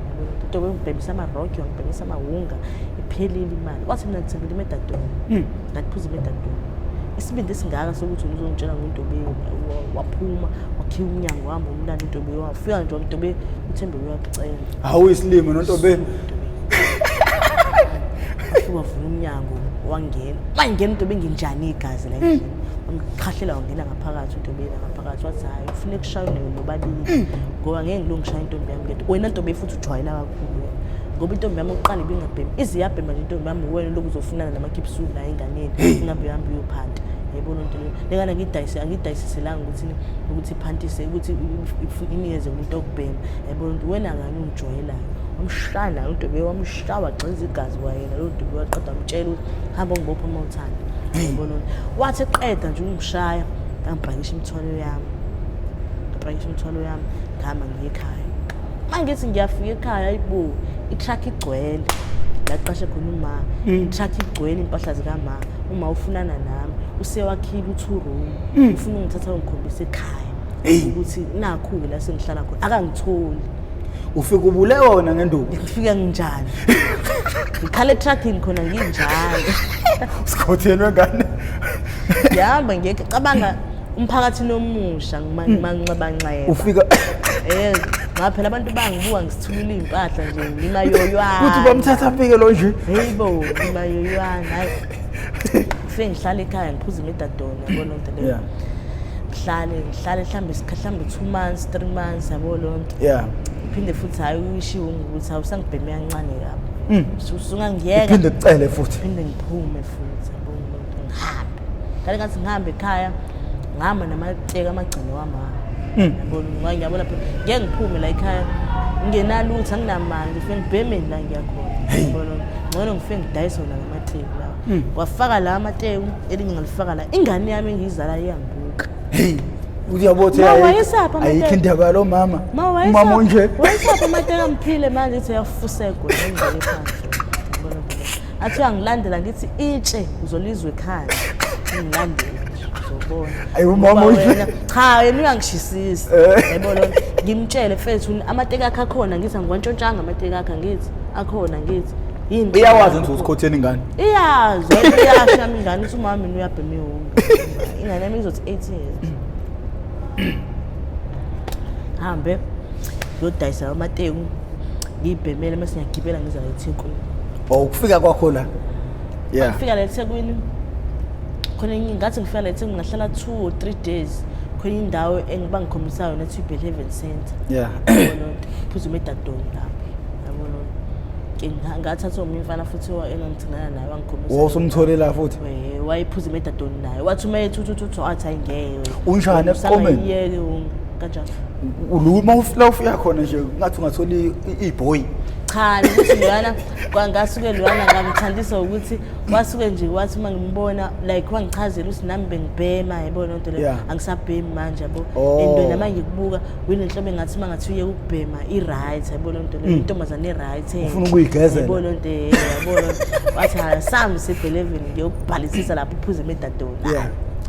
untobe ngibhemisa ama rock ngibhemisa amawunga iphelile imali wathi mina ngithembele imedadona hmm. ngaphuza imedadona isibindi esingaka sokuthi uzongitshela ngentobe waphuma wakhiwa umnyango wahamba umlanda intobe wafika nje wamtobe uthembe uyakucela hawu isilimo nontobe wavula umnyango wangena wangena into benginjani igazi la endlini wamqhahlela wangena ngaphakathi into beyela ngaphakathi wathi hayi ufuna ekushaywa nayo nobabili ngoba ngeke ngilongishaye intombi yami ngento wena ntombi futhi jwayela kakhulu wena ngoba intombi yami oqala ibingabhemi ize yabhema nje intombi yami wena lokhu uzofunana namakipsulu naye enganeni ingabe uhambe uyophanta yayibona into leyo lengane angidayise angidayiseselanga ukuthi ukuthi iphantise ukuthi inikeze umuntu okubhema yayibona ukuthi wena ngani ungijwayelayo wamshana lo ntombi wamshawa gxiza igazi kwayena lo ntombi waqeda mtshela ukuthi hamba ngibopha uma uthanda yayibona wathi eqeda nje ungishaya ngangibhakisha imithwalo yami ngibhakisha imithwalo yami ngihamba ngiye ekhaya uma ngithi ngiyafika ekhaya ayibo itruck igcwele laqashe khona uma mm. itruck igcwele impahla zikama uma ufunana nami usewakhile u-two room mm. ufuna ungithatha ungikhombisa ekhaya ukuthi nakhu-ke la sengihlala khona akangitholi ufike ubule wona ngenduku ngifike nginjani ngikhala etruckini khona nginjalo sikhothenwe ngane yahamba ngiyeke cabanga umphakathi nomusha ngimanxebanxeba hmm. ufika eh ngaphela abantu bangibuka ngisithulula impahla nje ngimayoywana kuthi bamthatha afike lo nje hayibo ngimayoywana hayi ngifike ngihlale ekhaya ngiphuza imidadona yabo lonto leyo yeah ngihlale ngihlale mhlawumbe mhlawumbe two months three months yabo loo nto yeah phinde futhi hhayi uyishiwo ngukuthi awusangibheme kancane kabi hmm. usungangiyeka phinde kucele futhi phinde ngiphume futhi ngihambe ngale ngathi ngihambe ekhaya ngihamba namateka amagcino wamama Mm. yabona ngoba ngiyabona phela ngeke ngiphume la ekhaya ngingenalutho anginamali ngifike ngibhemeni la ngiyakhona yabona ngcono ngifike ngidayise wona lamateku lawa Mm. wafaka la amateku elinye ngalifaka la ingane yami engiyizala iyangibuka heyi uyabo ukuthi Ma, ayikho- wayesaphi amateku? ayikho indaba yalo mama ma umama onje wayesaphi amateka mphile manje ithi uyafusegwa ngendlela ephansi athi uyangilandela ngithi itshe uzolizwa ekhaya ngilandela uzobona Ayi, umama Ngoba uyi- wena- cha yena uyangishisisi Eh. yabo lo ngimtshele mfethu amateki akhe akhona ngithi angiwantshontshanga amateki akhe ngithi akhona ngithi yini iyawazi nje usikhotheni ingane iyazi wena iyasho yami ingane uthi umama mina uyabhema iwunga ingane yami izothi 18 years hambe yodayisa amateku ngiyibhemele mase ngiyagibela ngiza la ethekwini o oh, ukufika kwakho la yeah. ngifika la ethekwini khona ngathi ngifika la ethekwini ngahlala two or three days khona indawo engiba ngikhombisa yona ethi ibel heaven center yeah. phuzuma edadoni lapho ngathatha omunye umfana futhi engangithingana naye wangikhombisa wo somtholela futhi wayephuza imedadoni naye wathi uma yethuthuthuthi wathi ayingeke unjani ekomeni kanjalo uluma ufla ufuya khona nje ngathi ungathola iboy cha ukuthi lwana kwangasuke lwana ngamthandisa ukuthi wasuke nje wathi uma ngimbona like wangichazela ukuthi nami bengibhema yabona into leyo angisabhemi manje yabo oh. and noma ngikubuka wini nhlobo engathi uma ngathi uye ukubhema i-right yabona into leyo mm. intombazane i-right eh. ufuna ukuyigezela yabona into eh, yabona wathi ha sami sebhelevini ngiyokubhalisisa lapho uphuze emedadoni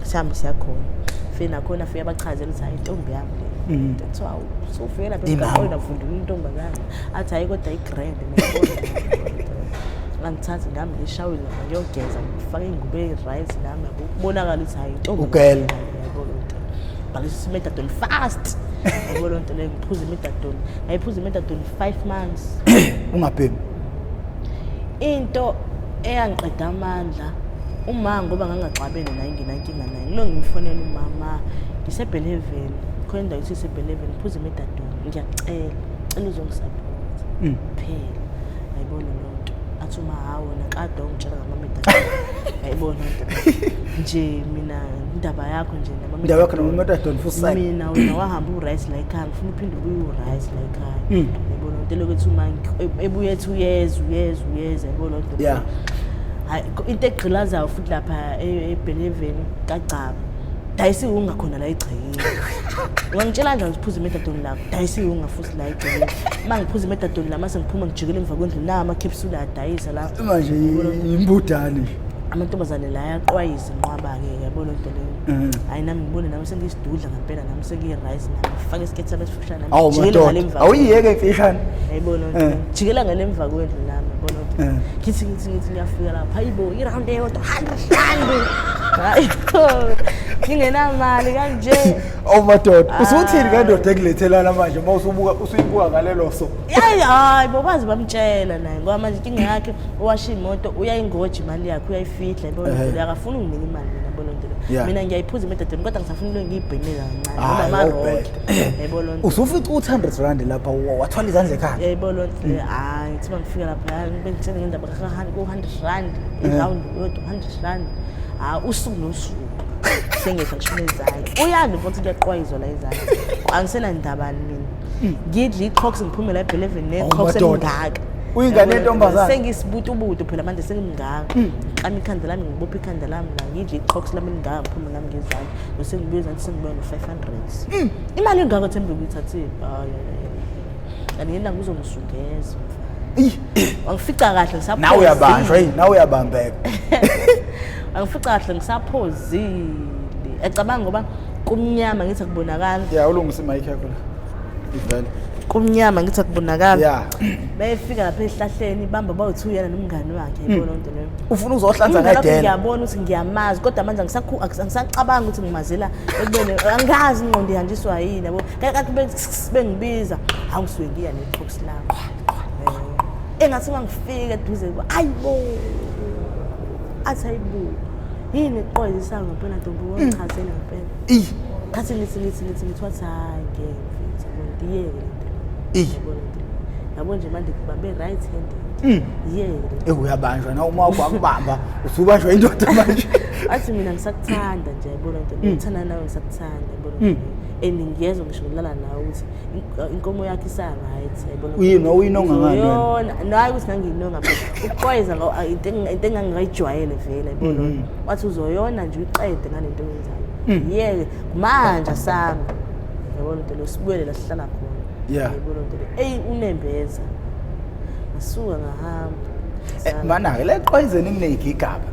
sami siyakhona fina khona uyabachazela ukuthi hayi intombi yami le Mm. kuthiwa usufike lapha Imama. emgaqweni avundula intombazane athi hayi kodwa i-grand angithathi nami ngishawile lapha ngiyogeza ngifake ingubo eyi-right nami yabo kubonakala ukuthi hayi intombi Ugel. yabo loo nto bhalisa imedadoni fast yabo loo nto leyo ngiphuza imedadoni ngayiphuza imedadoni five months ungabhemi into eyangiqeda amandla uma ngoba ngangaxabene naye nginankinga Lo ngimfonela umama ngisebheleveni khona indawo ithi sebheleveni phuza imidadweni ngiyacela cela uzongisapota mm. phela ayibona loo nto athi uma hawo nakade ongitshela ngamamidadweni ayibona nje mina indaba yakho nje indaba yakho namamidadweni futhi mina wena wahamba uright la ekhaya ngifuna uphinde ubuye uright la ekhaya mm. ayibona loo nto elokuthi uma ebuye ethi uyeza uyeza uyeza ayibona loo nto hayi into egqilazayo futhi lapha e- ebheleveni kagcaba dayisa iwunga khona la egcekeni ungangitshela kanjani ukuthi phuza imetadoni lakho dayisa iwunga futhi la egcekeni uma ngiphuza imetadoni la mase ngiphuma ngijikele emva kwendlu nawo amakhepsula adayisa la manje yimbudane nje amantombazane la ayaqwayisa inqwaba-ke yabona into leyo Mm. hhayi nami ngibone nami sengiyisidudla ngempela nami sengiyi-rice nami fake isiketi sami esif- awu madoda awuyiyeke imfishane ayibona eh. jikela ngale emva kwendlu nami yabona ukuthi eh. ngithi ngithi ngithi ngiyafika lapha hayibo i-round eyodwa handa hlambi hayi ngingenamali kanje awu oh, madoda ah. usuthini kandoda ekulethelana manje uma usubuka usuyibuka ngalelo so yayi hayi bobazi bamtshela naye ngoba manje inkinga yakhe owasha imoto uyayingoji imali yakhe uyayifihla yabona eh. akafuni unginika imali mina yabona mina ngiyayiphuza imidadweni kodwa ngisafuna into engiyibhemile kancane ngoba amaroke Yayibona loo nto. usufica u-100 rand lapha wa- wathwala izandla ekhanda yayibona loo nto leyo hayi kuthiba ngifika lapha hayi ngibe ngitheni ngendaba ku-hundred rand irawundi yodwa hundred rand hayi usuku nosuku sengekho ngishona izandla uyanda ubona ukuthi kuyaqwayizwa la izandla angisenandaba ni mina ngidla i-cox ngiphume la ebheleveni Oh, ne-cox madoda. engingaka Uyingane yentombazane. sengisibutubutu phela manje sengimngaka ngiklama ikhanda lami ngibophe ikhanda lami la ngidla i-cox lami elingaka ngiphume ngami ngezandla nosengibuye ezandla sengibuya no-five Mm. Imali engaka thembe uyithathile. Hayi. Kanti yena ngizongizungeza. Angifica kahle ngisaphozi. Nawe uyabanjwa yini? Nawe uyabambeka. Angifica kahle ngisaphozile. Ecabanga ngoba kumnyama ngithi kubonakala. Yeah, ulungisa imic yakho la. Ivele. kumnyama ngithi akubonakala yeah. beyefika lapha ehlahleni bamba bawuthu yena nomngani wakhe hmm. yibona into leyo ufuna uzohlanza ngedela ngiyabona ukuthi ngiyamazi kodwa manje angisakhu angisacabanga ukuthi ngimazela ekubeni angazi ingqondo ihanjiswa yini yabo kakathi bengibiza hawu ngisuke ngiya ne-box lami eh, engathi uma ngifike eduze kuba ayi bo athi ayibo yini qoyizisa ngempela ntombi wangichazela ngempela mm. ngathi ngithi ngithi ngithi ngithi wathi hhayi ngeke mfethu ngiyeke lento yabo nje manje babe right handed Mm. ewe uyabanjwa na uma wakho akubamba usubanjwa indoda manje athi mina ngisakuthanda nje yabona ntombi mm. ngithanda nawe ngisakuthanda yabona mm. and ngiyezwa ngisho ngilala nawe ukuthi inkomo yakho isa-right yabona uyini uyinonga ngayona naye ukuthi ngangiyinonga ukuqwayeza into engangingayijwayele vele yabona mm-hmm. wathi uzoyona nje uyiqede ngale nto yenzayo mm. yeke manje sami yabona nto leyo sibuyele la sihlala khona yabona nto leyo eyi unembeza ngasuka ngahamba eh, mana-ke leqwayizeni kuneyigigaba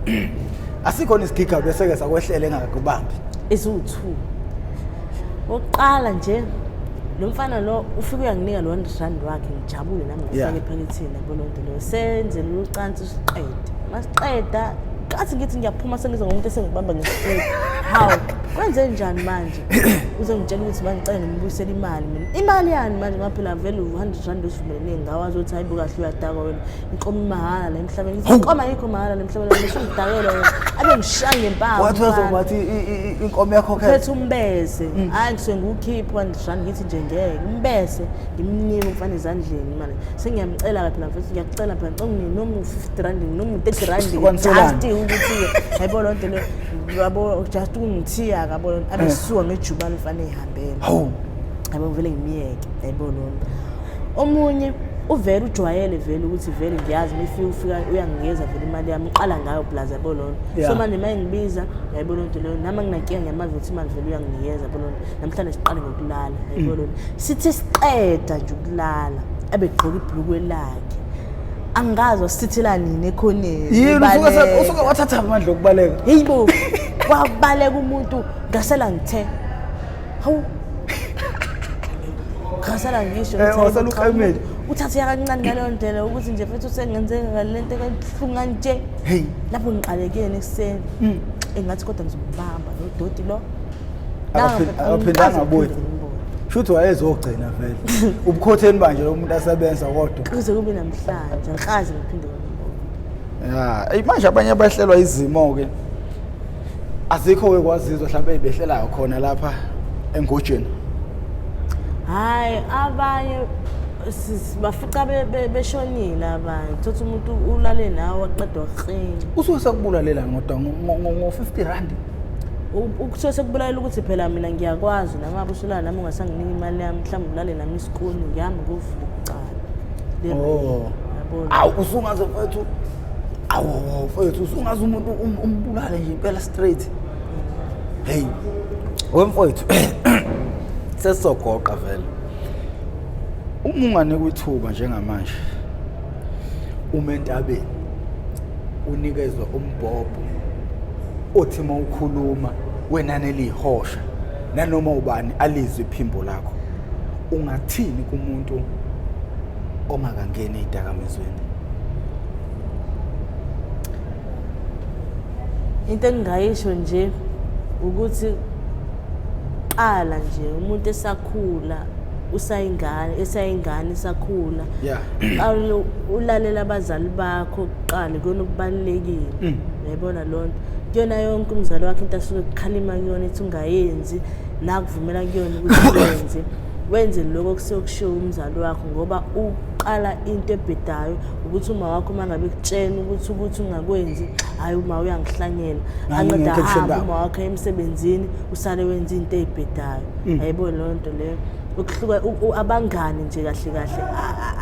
asikhona isigiga beseke sakwehlela engakubambi eziwu-two oqala nje lo mfana lo ufike uyanginika lo hundred rand wakhe ngijabule nami Yeah. ngifake ephakethini yabo lonto leyo senze lolu cansi siqede masiqeda kathi ngithi ngiyaphuma sengizwa ngomuntu esengibamba ngesifuni hawu kwenze njani manje uze ngitshela ukuthi bangicela ngimbuyisele imali mina imali yani manje maphela vele u-hundred rand osivumelene ngawo azothi hayi bukahle uyadakwa wena ngiqoma imahhala la emhlabeni Hawu. ngiqoma ayikho mahhala la emhlabeni ngisho ngidakela yena abe ngishaya ngempama wathi umfana. wazoba wathi i- i- i- inkomo yakhokhela phethe umbese hayi ngisuke ngiwukhipha ndishani ngithi nje ngeke umbese ngimnike umfana ezandleni imali sengiyamcela-ke phela mfethu ngiyakucela phela ngicela unginike noma u-fifty rand noma u-thirty rand Sikwaniselani? just ukuthi-ke yabo loo nto leyo yabo just ukungithiya-ke yabo loo nto abe suka ngejubane umfana eyihambele hawu yabo ngivele ngimyeke yayibona lona omunye uvele ujwayele vele ukuthi vele ngiyazi mifika ufika uyanginikeza vele imali yami uqala ngayo plus yabo lona yeah. so manje uma engibiza yayibo loo nto leyo nami anginankinga ngiyamazi ukuthi imali vele uyanginikeza yabo lona namhlanje siqale ngokulala yayibo mm. lona sithe siqeda nje ukulala ebegqoka ibhulukwe lakhe angazi wasithithela nini ekhoneni yini usuke usuke wathatha amandla okubaleka heyibo wabaleka umuntu ngasela ngithe hawu ngasala ngisho Eh, ukuthi wasala hayibo, uqamele. cha, uthathe yakancane ngaleyo ndlela ukuthi nje futhi usengenzeka ngale nto kabuhlungu kanje Hey. lapho ngiqalekeni ekuseni engathi kodwa ngizomubamba lo doti lo Akaphi- akaphindanga abuye. Shuthi wayezogcina vele. Ubukhotheni manje lo muntu asebenza kodwa. kuze kube namhlanje ngikaze ngiphinde ngimbone. Ya, ayi manje abanye abahlelwa izimo ke. azikho ke kwazizwa mhlawumbe ezibehlelayo khona lapha engojeni hayi abanye bafica beshonile abanye thothi umuntu ulale nawe aqeda waklini usuke sekubulalela ngoda ngo-50 randi ukusuke sekubulalela ukuthi phela mina ngiyakwazi nangabe usulala nami ungasanginika imali yami mhlawumbe ulale nami isikuni ngihamba ngovula icala oh. awu usungaze mfethu awu mfowethu usungazi umuntu um, umbulale nje impela straight hey wemfowethu sesizogoqa vele uma unganikwa ithuba njengamanje uma entabeni unikezwe umbhobho othi uma ukhuluma wenani eliyihosha nanoma ubani alizwe iphimbo lakho ungathini kumuntu ongakangeni ey'dakamizweni into engingayisho nje ukuthi qala nje umuntu esakhula usayingane esayingane isakhula yeah ulalela abazali bakho kuqala kuyona okubalekile mm. yayibona lonto kuyona yonke umzali wakhe into asuke kukhalima kuyona ethi ungayenzi nakuvumela kuyona ukuthi uyenze Wenzeni lokho okusuke kushiwo umzali wakho ngoba uqala into ebhedayo ukuthi uma wakho uma ngabe kutshena ukuthi ukuthi ungakwenzi hhayi uma uyangihlanyela anqeda hambe uma wakho emsebenzini usale wenza into ey'bhedayo mm. ayibo loo nto leyo ukuhluka abangani nje kahle kahle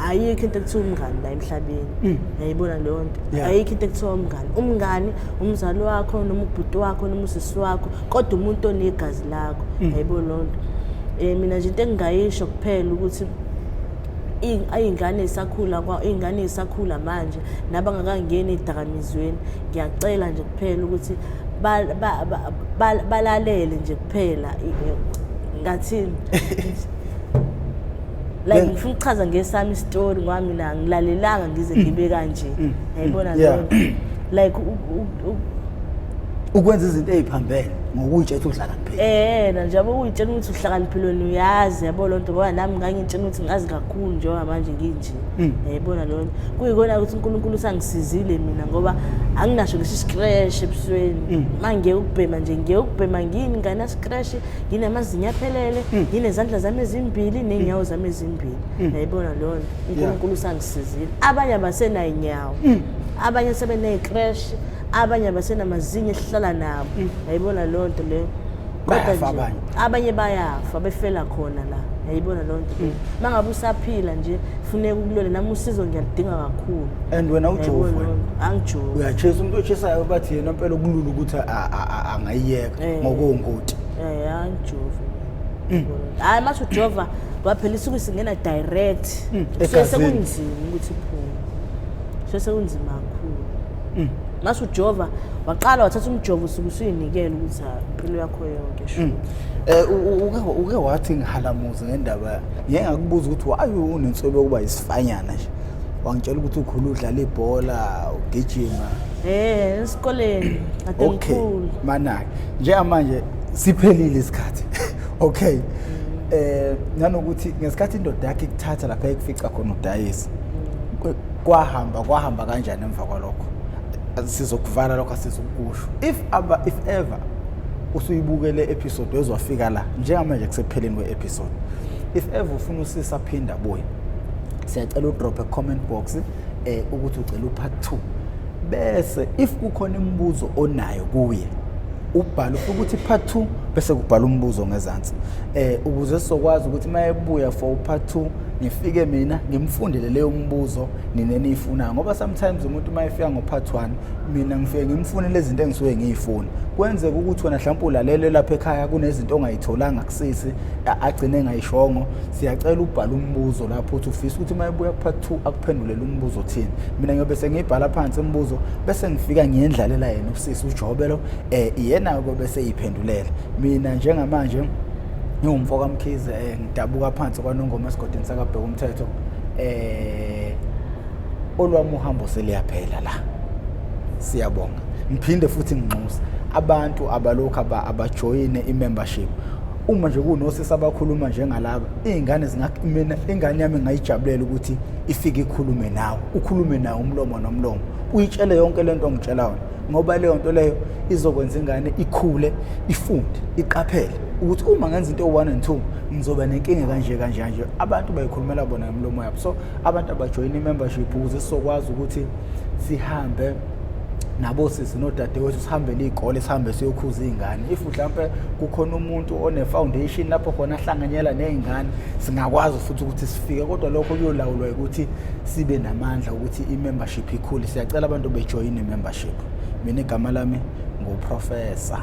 ayikho into ekuthiwa umngani la emhlabeni mm. yayibona leyo nto ayikho into ekuthiwa umngani umngani umzali wakho noma ubhuti wakho noma usisi wakho kodwa umuntu onegazi lakho mm. hayibo lonto eh mina nje into engingayisho kuphela ukuthi iy'ngane isakhula iy'ngane isakhula manje nabangakangeni ey'dakamizweni ngiyacela nje kuphela ukuthi balalele nje kuphela ngathini like ngifuna ukuchaza ngesami isitori ngoba mina ngilalelanga ngize ngibe kanje mm. yayibona mm. leyo like ukwenza izinto eziphambene ngokuyitshela ukuthi uhlakaniphile eh na njengoba uyitshela ukuthi uhlakaniphile wena uyazi yabo lonto ngoba nami ngangitshela ukuthi ngazi kakhulu njengoba manje nginje hmm. yayibona eh, lonto kuyikona ukuthi uNkulunkulu usangisizile mina ngoba anginasho lesi scratch ebusweni hmm. mangeke ukubhema nje ngeke ukubhema ngini ngana scratch nginamazinyo aphelele hmm. nginezandla zami ezimbili nenyawo zami ezimbili yayibona eh, lonto uNkulunkulu usangisizile sizile abanye abasenayinyawo mm. abanye sebeneyicrash abanye abasenamazinyo esihlala nabo mm. yayibona loo nto leyo kodwa abanye bayafa befela khona la yayibona loo nto leyo mm. uma ngabe usaphila nje funeka ukulole nami usizo ngiyaludinga kakhulu and wena ujovu angijovu uyachesa umuntu ochesayo bathi yena mpela ukulula ukuthi angayiyeka eh. ngokuwungoti um eh, angijovu mm. hayi mm. masho jova waphela isuku singena direct mm. so sekunzima ukuthi phuma so sekunzima kakhulu mm. masho jova waqala wathatha umjovo usuku usuyinikela ukuthi impilo yakho yonke sho mm. eh uke wathi ngihalamuzi ngendaba ngeke ngakubuza ukuthi why unensobe yokuba isifanyana nje wangitshela ukuthi ukhulu udlala ibhola ugijima eh esikoleni adenkulu manake njengamanje siphelile isikhathi okay eh nanokuthi ngesikhathi indoda yakhe ikuthatha lapha ekufica khona udayisa kwahamba kwahamba kanjani emva kwalokho sizokuvala lokho asizokusho if aba if ever usuyibukele episode wezwafika la njengamanje kusepheleni we episode if ever ufuna usisa phinda buye siyacela udrop a comment box eh ukuthi ucela upart 2 bese if kukhona imibuzo onayo kuye ubhala ufike ukuthi part two bese kubhala umbuzo ngezansi eh ukuze sizokwazi ukuthi uma ebuya for part two ngifike mina ngimfundele leyo mbuzo nina niyifunayo ngoba sometimes umuntu uma efika ngo-part one mina ngifike ngimfunele izinto engisuke ngiyifuni kwenzeka ukuthi wena mhlawumpe ulalele lapha ekhaya kunezinto ongayitholanga kusisi agcine engayishongo siyacela ubhala umbuzo lapho uthi ufisa ukuthi uma ebuya ku-part two akuphendulele umbuzo othini mina ngiyobe sengiyibhala phansi imibuzo bese ngifika ngiyendlalela yena sisi ujobelo eh iyena ke bese iphendulela mina njengamanje ngiwumfo kamkhize eh ngidabuka phansi kwanongoma esigodini sakabheka umthetho eh olwami uhambo seliyaphela la siyabonga ngiphinde futhi nginxusa abantu abalokhu abajoyine i-membership uma nje kunosisi abakhuluma njengalaba iy'ngane mina ingane yami ngayijabulela ukuthi ifike ikhulume nawe ukhulume nawe umlomo nomlomo uyitshele yonke le nto ongitshela wona ngoba leyo nto leyo izokwenza ingane ikhule ifunde iqaphele ukuthi uma ngenza into one and two ngizoba nenkinga kanje kanje kanje abantu bayikhulumela bona ngomlomo yabo so abantu abajoyina i-membership ukuze sizokwazi ukuthi sihambe nabosisi nodadewethu sihambele iy'kole sihambe siyokhuza iy'ngane if mhlawumpe kukhona umuntu one-foundation lapho khona ahlanganyela ney'ngane singakwazi futhi ukuthi sifike kodwa lokho kuyolawulwa ukuthi sibe namandla ukuthi i-membership ikhule siyacela abantu bejoyine i-membership mina igama lami nguprofessor